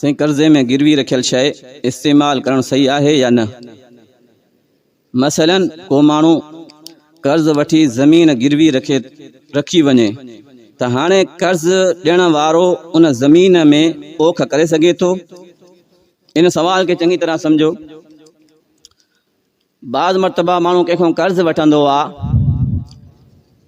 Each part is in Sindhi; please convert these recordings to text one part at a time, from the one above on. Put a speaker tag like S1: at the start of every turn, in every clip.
S1: سائين قرضي ۾ گروي رکيل شئي استعمال ڪرڻ صحيح آهي يا نه؟ مثلا ڪو ماڻهو قرض وٺي زمين گروي رکي رکي وڃي ته هاڻي قرض ڏيڻ وارو ان زمين ۾ پوک ڪري سگهي ٿو؟ ان سوال کي چڱي طرح سمجهو. بعض مرتبا ماڻهو ڪنهن کان قرض وٺندو آ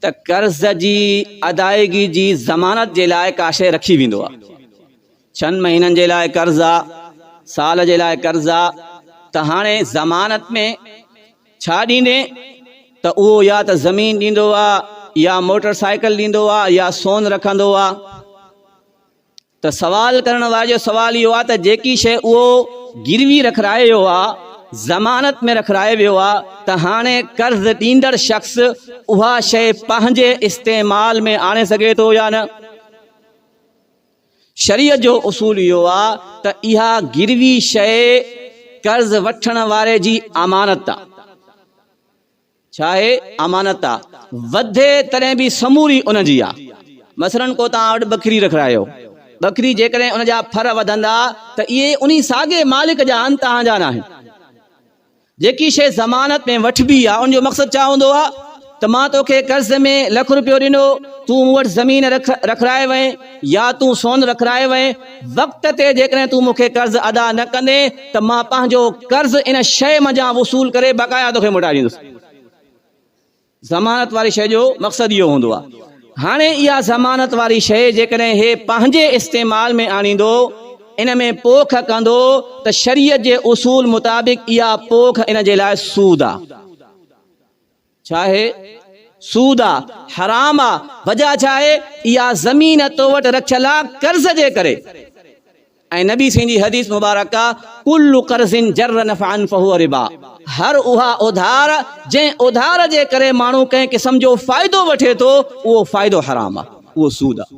S1: ته قرض جي ادائيگي جي ضمانت جي لاء ڪا شيء رکي ويندو آ. ڇهن مهينن جي لاء قرض آ، سال جي لاء قرض آ ته هاڻي ضمانت ۾ ڇا ڏيندين ته اهو يا ته زمين ڏيندو آ يا موٽر سائيڪل ڏيندو آ يا سون رکندو آ. ته سوال ڪرڻ واري جو سوال اهو آهي ته جيڪي شيء اهو گروي رکرائي ويو آهي، ضمانت ۾ رکرائي ويو آهي ته هاڻي قرض ڏيندڙ شخص اها شيء پنهنجي استعمال ۾ آڻي سگهي ٿو يا نه؟ شريعت جو اصول اهو آهي ته اها گروي شيء قرض وٺڻ واري جي امانت آهي. ڇاهي امانت آ وڌي تڏهن به سموري ان جي آ مثلاً ڪو توهان وٽ ٻڪري رکرايو ٻڪري جيڪڏهن ان جا ڦر وڌندا ته اهي انهي ساڳي مالڪ جا آهن توهان جا ناهن جيڪي شيء ضمانت ۾ وٺبي آ ان جو مقصد ڇا هوندو آ ته مان توکي قرض ۾ لک روپيو ڏنو تون مون وٽ زمين رک رکرائي وئين يا تون سون رکرائي وئين، وقت تي جيڪڏهن تون مون کي قرض ادا نه ڪندين ته مان پنهنجو قرض ان شيء منجهان وصول ڪري بقايا توکي موٽائي ڏيندس. ضمانت واري شيء جو مقصد اهو هوندو آهي. هاڻي اها ضمانت واري شيء جيڪڏهن هي پنهنجي استعمال ۾ آڻيندو، ان ۾ پوک ڪندو ته شريعت جي اصول مطابق اها پوک ان جي لاء سود آهي. ڇا اهي سود آ حرام آ وجه ڇا آهي اها زمين تو وٽ رکيل آ قرض جي ڪري ۽ نبي سين جي حديث مبارڪ آ ڪل قرض جر نفعا فهو ربا هر اها اوڌار جنهن اوڌار جي ڪري ماڻهو ڪنهن قسم جو فائدو وٺي ٿو اهو فائدو حرام آ اهو سود آ.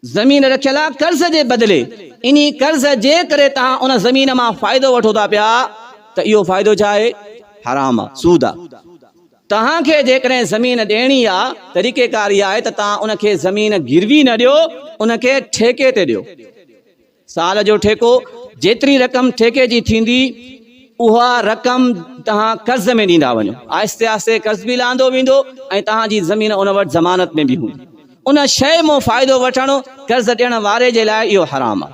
S1: زمين رکيل آ قرض جي بدلي انهي قرض جي ڪري توهان ان زمين مان فائدو وٺو ٿا پيا ته اهو فائدو ڇا آهي حرام آ سود آ توهان کي جيڪڏهن زمين ڏيڻي آ طريقي ڪار اهي آهي ته توهان ان کي زمين گروي نه ڏيو ان کي ٺيڪي تي ڏيو. سال جو ٺيڪو، جيتري رقم ٺيڪي جي ٿيندي اها رقم توهان قرض ۾ ڏيندا وڃو. آهستي آهستي قرض به لهندو ويندو ۽ توهان جي زمين ان وٽ ضمانت ۾ به هوندي. ان شيء مون فائدو وٺڻ، قرض ڏيڻ واري جي لاء اهو حرام آهي.